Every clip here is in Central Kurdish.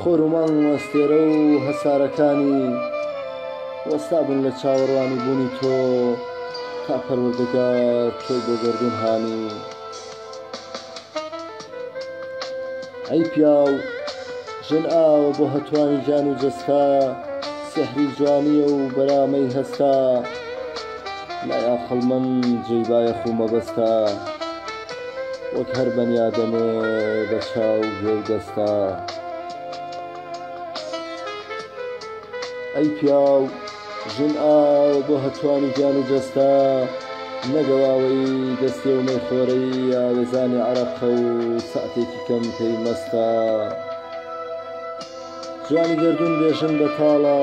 خۆر و مانگ و ئەستێرە و هەسارەکانی وەستا بوون لە چاوەڕوانی بوونی تۆ تا پەروەردگار تۆی بۆ گەردوون هانی ئەی پیاو ژن ئاوە بۆ هەتوانی جان و جەستا سحری جوانیە و بەرامەی هەستا لای ئاقڵمەند جێی بایەخ و مەبەستە وەک هەر بەنیادەمێ بە چاو ژێر دەستا ئەی پیاو ژن ئاو بۆ هەتوانی گیان و جەستا نەگەواوەی دەستێ و مەیخۆرەی یاوێزانی عەرەقە و سەعتێکی کەم پێی مەستا جوانی گەردون بێژن بەتاڵە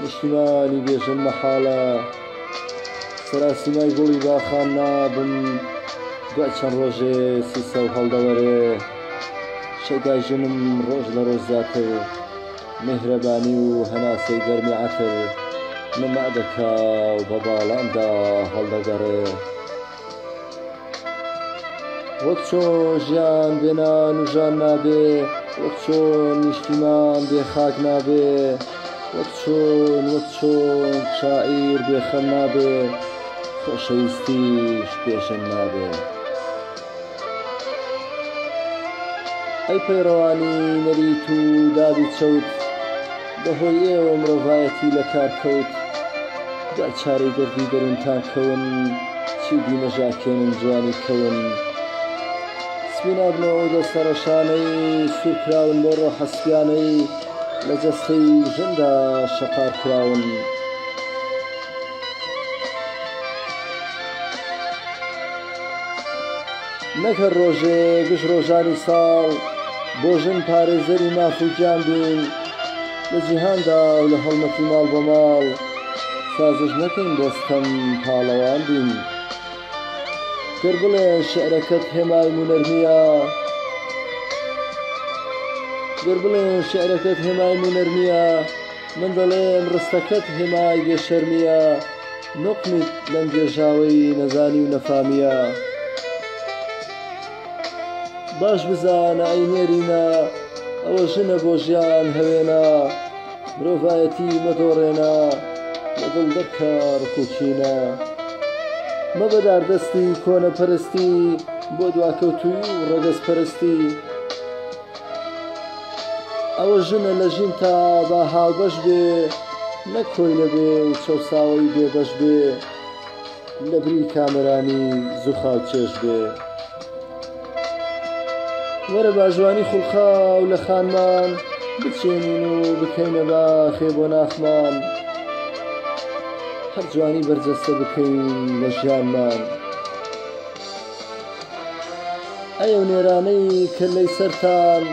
نیشتیمانی بێژن مەحاڵە سەراسیمای گوڵی باخان نابم دوای چەند ڕۆژێ سیسە و هەڵدەوەرێ شەیدای ژنم ڕۆژ لە ڕۆژ زیاتر میهرەبانی و هەناسەی گەرمی عەتر نما دەکا و بە باڵاندا هەڵدەگەڕێ وەک چۆن ژیان بێ نان و ژان نابێ، وەک چۆن نیشتیمان بێ خاک نابێ، وەک چۆن وەک چۆن شاعیر بێ خەم نابێ، خۆشەویستیش بێ ژەم نابێ. ئەی پەیڕەوانی نەریت و دادی چەوت! بەهۆی ئێوە مرۆڤایەتی لەکارکەوت جا چارەی دەردی دەروونتان کەون چیدی نەژاکێنن جوانی کەون سپینابنەوە و دەستە ڕەشانەی سوورکراون بۆ ڕۆحە سپیانەی لە جەستەی ژندا شەقار کراون. نەک هەر ڕۆژێ گشت ڕۆژانی ساڵ بۆ ژن پارێزەری ماف و گیان بین لە جیهاندا و لە هەڵمەتی ماڵ بە ماڵ سازش نەکەین بۆ ستەم پاڵەوان بین گەر بڵێ شعرەکەت هێمای هونەر نییە گەر بڵێن شعرەکەت هێمای هونەر نییە من دەڵێم ڕستەکەت هێمای بێ شەرمییە نوقمیت لەم گێژاوەی نەزانی و نەفامییە باش بزانە ئەی نێرینە ئەوە ژنە بۆ ژیان هەوێنە مرۆڤایەتی مەدۆڕێنە لە دڵ دەرکە ڕکوچینە مەبە داردەستی کۆنەپەرستی بۆ دواکەوتووی و ڕەگەزپەرستی ئەوە ژنە لە ژین تا با هاوبەش بێ نەک کۆیلە بێ و چەوساوەی بێبەش بێ لە بری کامەرانی زوخاو چێژ بێ وەرە با ژوانی خولقاو لە خانمان بچێنین و بکەینە باخێ بۆ ناخمان هەر جوانی بەرجەستە بکەین لە ژیانمان. ئەی ئەو نێرانەی کە لەی سەرتان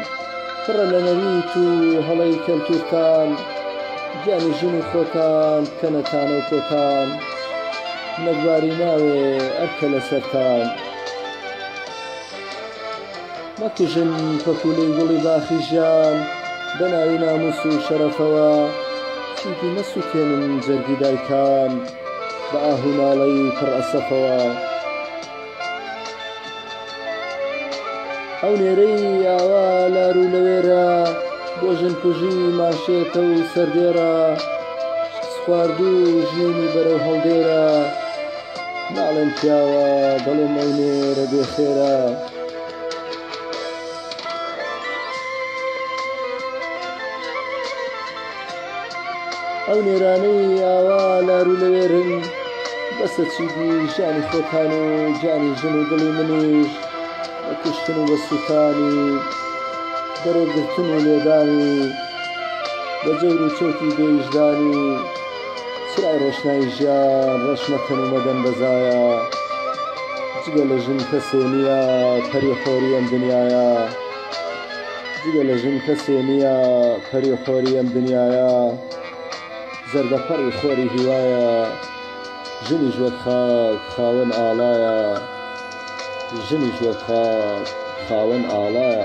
پڕە لە نەریت و هەڵەی کەلتوورتان گیانی ژنی خۆتان بکەنە تانە و کۆتان نەگباری ناوێ ئەرکە لەسەرتان. مەکوژن پەپوولەی گوڵی باخی ژیان بە ناوی نامووس و شەرەفەوە چیدی مەسووتێنن جەرگی دایکان بە ئاه و ناڵەی پڕ ئەسەفەوە ئەو نێرەی ئاوا لار و لەوێرە بۆ ژنکوژی ماشێتە و سەردێڕە شکست خواردوو ژینی بەرەو هەڵدێرە ناڵێم پیاوە دەڵێم ئەو نێرە بێ خێرە ئەو نێرانەی ئاوا لارو لەوێرن بەسە چیدی ژیانی خۆتان و گیانی ژن و دڵی منیش بە کوشتن و بە سووتانی بەرەو گرتن و لێدانی بە جەور و چەوتی دێژدانی چرای ڕۆشنای ژیان ڕەش مەکەن و مەدەن بە زایە جگە لە ژن کەسێ نییە پەری خۆری ئەم دنیایە جگە لە ژن کەسێ نییە پەری خۆری ئەم دنیایە زەردەپەڕی خۆری هیوایە ژنیش وەک خاک خاوەن ئاڵایە ژنیش وەک خاک خاوەن ئاڵایە